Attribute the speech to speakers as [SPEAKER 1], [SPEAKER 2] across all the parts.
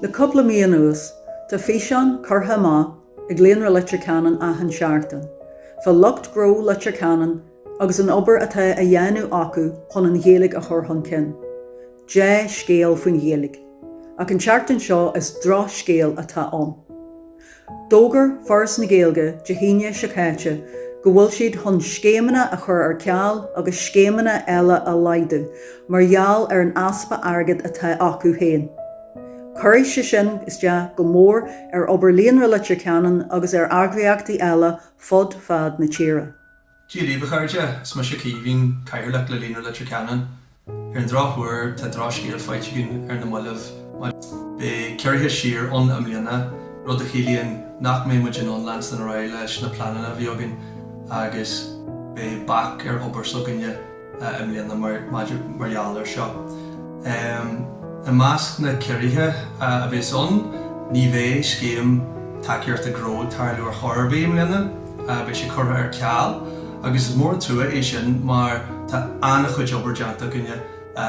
[SPEAKER 1] Le cúpla mí anuas, tá físeán curtha amach ag Líonra Leitir Ceanainn achan seachtain fá lucht gnó Leitir Ceanainn agus an obair atá á dhéanamh acu chun an Ghaeilge a chur chun cinn. Dea-scéal faoin Ghaeilge, ach an tseachtain seo is drochscéal atá ann. D'fhógair Foras na Gaeilge Dé hAoine seo caite go bhfuil siad chun scéimeanna a chur ar ceal agus scéimeanna eile a laghdú mar gheall ar an easpa airgid atá acu féin. Cuirfidh sé sin isteach go mór ar obair Líonra Leitir Ceanainn agus ar eagraíochtaí eile fud fad na tíre. Dia daoibh a
[SPEAKER 2] chairde, is mise Caoimhín, Cathaoirleach le Líonra Leitir Ceanainn. Ar an drochuair tá drochscéal faighte againn ar na mallaibh beidh ciorruithe siar ann i mbliana, rud a chiallaíonn nach mbeidh muid in ann leanstan ar aghaidh leis na pleananna a bhí againn agus beidh bac ar obair s'againne. i mbliana mar gheall air seo. I measc na ciorruithe a bheas ann, ní bheidh scéim tacaíochta gnó ag tarlú ar chor ar bith i mbliana, beidh sé curtha ar ceal agus is mór an trua é sin mar tá an-chuid obair déanta againne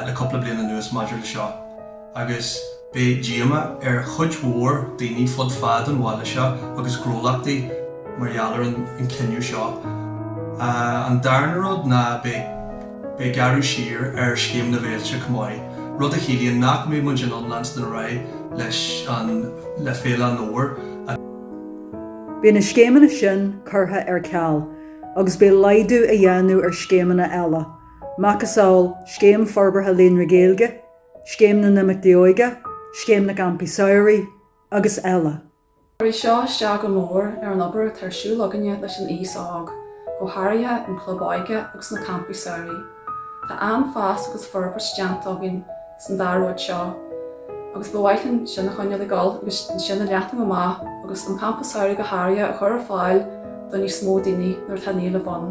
[SPEAKER 2] le cúpla bliain anuas maidir leis seo. agus beidh díomá ar chuid mhór daoine fud fad an bhaile seo agus gnólachtaí mar gheall ar an cinneadh seo. An darna rud ná beidh beidh gearradh siar ar Scéim na bhFéilte chomh maith, rud a chiallaíonn nach mbeidh muid in ann leanstan ar aghaidh leis an le Féile an Fhómhair
[SPEAKER 1] a. Beidh na scéimeanna sin curtha ar ceal agus beidh laghdú á dhéanamh ar scéimeanna eile, macasamhail Scéim Forbartha Líonra Gaeilge, Scéim na nImeachtaí Óige, Scéim na gCampaí Samhraidh agus eile. Cuirfidh
[SPEAKER 3] seo isteach go mór ar an obair atá ar siúl againne leis an aos óg, go háirithe an club óige agus na campaí samhraidh. Tá an-fhás agus forbairt déanta againn san dá rud seo agus ba mhaith linn sin a choinneáil ag dul agus sin a leathnú amach agus an campa samhraidh go háirithe a chur ar fáil do níos mó daoine nuair atá an-éileamh ann.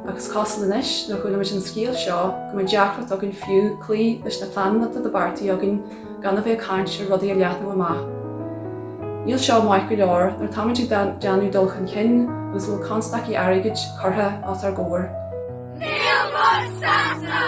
[SPEAKER 3] Ach is cosúil anois, nuair a chuala muid an scéal seo, go mbeidh deacracht againn fiú cloí leis na pleananna atá beartaithe againn gan a bheith ag caint ar rudaí a leathnú amach. Níl seo maith go leor nuair atáimid ag déanamh dul chun cinn agus go bhfuil constaicí airgid curtha os ár gcomhair. Níl muid sásta!